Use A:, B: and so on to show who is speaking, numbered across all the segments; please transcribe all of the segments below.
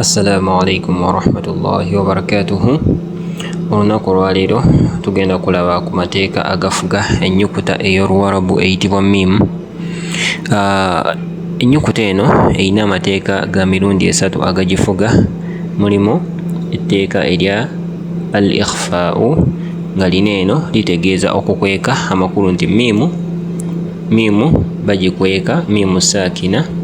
A: Assalamu alaikum warahmatullahi wabarakatuhu. Olunaku olwaleero tugenda kulaba ku mateeka agafuga ennyukuta ey'Oluwarabu eyitibwa miimu. Ah, ennyukuta eno erina amateeka ga mirundi esatu agagifuga. Mulimu etteeka erya al ikhfau nga lino eno litegeeza okukweka amakulu nti miimu miimu bagikweka miimu saakina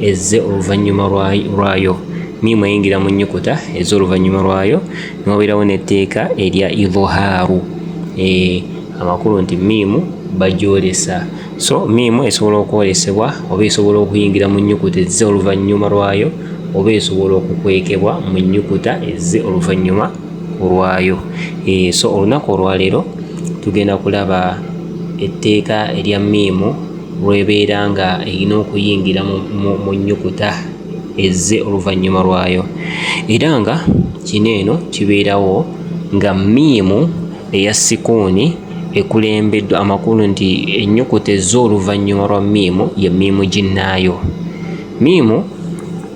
A: ezze oluvannyuma lwayo miimu eyingira mu nnyukuta ezze oluvannyuma lwayo niwabeerawo n'etteeka erya idhaaru eh, amakulu nti miimu bagyolesa so miimu esobola okwolesebwa oba esobola okuyingira mu nnyukuta ezze oluvannyuma lwayo oba esobola okukwekebwa mu nnyukuta ezze oluvannyuma olwayo eh, so olunaku olwaleero tugenda kulaba etteeka erya miimu lw'ebeera nga erina okuyingira mu nnyukuta ezze oluvannyuma lwayo era nga kino eno kibeerawo nga miimu eya sikuuni ekulembeddwa amakulu nti ennyukuta ezze oluvannyuma lwa miimu ye miimu ginnaayo miimu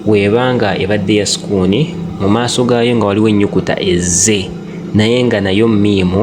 A: weeba nga ebadde ya sikuuni mu maaso gaayo nga waliwo ennyukuta ezze naye nga nayo miimu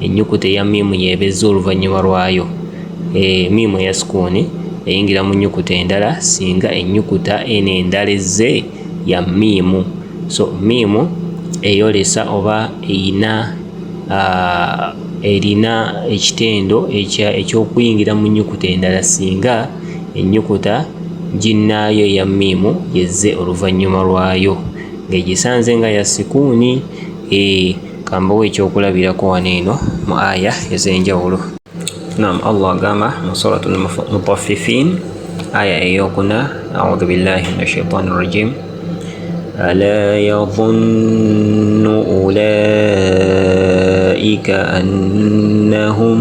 A: ennyukuta eya miimu y'ebezza oluvannyuma lwayo. E, miimu eya sukuuni eyingira mu nnyukuta endala singa ennyukuta eno endala ezze ya miimu. So miimu eyolesa oba eyina erina ekitendo eky'okuyingira mu nnyukuta endala singa ennyukuta ginnaayo eya miimu yezze oluvannyuma lwayo ng'egisanze nga ya sikuuni. E, kambawo ekyokulabirako wano eno mu aya ez'enjawulo nam allah agamba mu surat mutaffifin aya eyokuna audhu billahi min ashaitan rajim ala yadhunnu ulaika annahum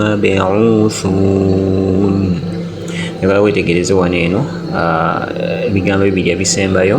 A: mabuthun ebala wetegereze wano eno ebigambo bibiri ebisembayo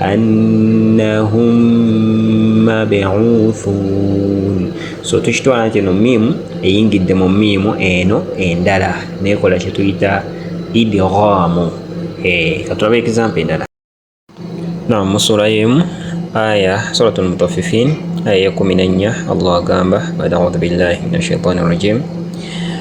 A: annahum mabuthun so tukitwala nti eno miimu eyingidde mu miimu eno endala nekola kyetuyita idghamu eh, katulaba example endala na musula yemu aya suratul mutaffifin aya ya kumi na nnya allah agamba bada audhu billahi min ashaitani rajim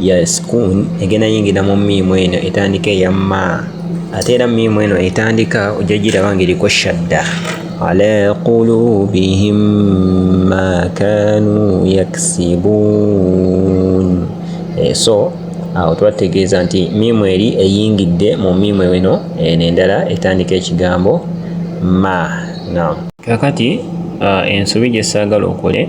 A: ya sukun egenda yingira mu miimu eno etandika eya ma ate era miimu eno etandika ojja giraba ng'eriko shadda ala qulubihim ma kanu yaksibun eh, so awo twategeeza nti miimu eri eyingidde mu miimu eno eno endala etandika ekigambo ma na kakati ah, ensobi gye saagala okole